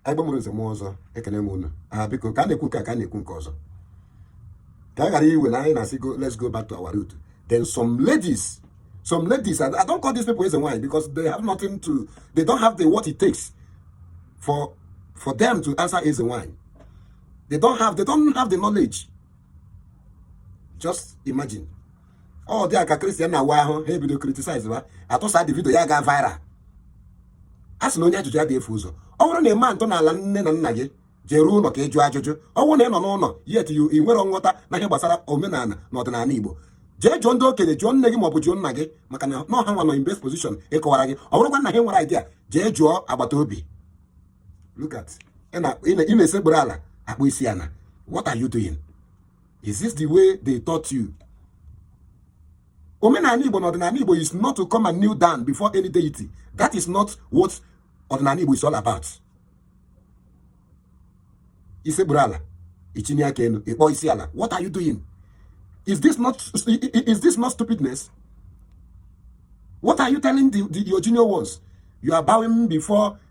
anyị gbanwere nze mmụọ ọzọ ekele m unu aha biko ka a na-ekwu nke a ka a na-ekwu nke ọzọ ka a ghara iwe na anyị na-asị go let's go back to our root then some ladies some ladies I, I don't call these people eze nwaanyị because they have nothing to they don't have the what it takes for for them to answer eze nwaanyị they don't have they don't have the knowledge just imagine ọ dị a ka Christian na-awa ahụ ha ebido criticize ha atụsa the video ya gaa viral a sị na onye ajụjụ adịghị efu ụzọ ọ bụrụ na ị maa ntọala nne na nna gị jere ụlọ ka ị jụọ ajụjụ ọ bụrụ na ị nọ n'ụlọ yet you i nwerọ nghọta na ihe gbasara omenala na ọdịnala igbo jee jụọ ndị okenye jụọ nne gị maọbụ jụọ nna gị maka na ọ ha nwa nọ in best position ịkọwara gị ọ bụrụkwa na ha enwerọ idea jee jụọ agbata obi look at ị na-esekpụrụ ala akpọ isi ala what are you doing is this the way they taught you omenala igbo na ọdịnala igbo is not to come and kneel down before any deity that is not what ọdịnala igbo is all about isegburu ala itinye aka elu ịkpọ isi ala what are you doing is this not is this not stupidness what are you telling the, the your junior ones you are bowing before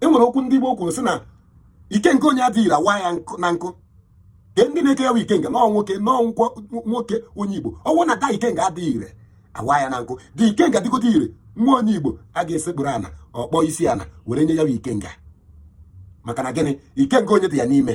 e nwere okwu ndị Igbo kwuru sị na ikenga onye adịghị ire a waa ya na nkụ kee ndị na-eke ya bụ ikenga na ọ nwoke na ọ nwoke onye Igbo ọ bụ na the ikenga adịghị ire a waa ya na nkụ the ikenga dịgote ire nwa onye Igbo a ga-esekpụrụ ana ọ kpọọ isi ana were nye ya bụ ikenga maka na gịnị ikenga onye dị ya n'ime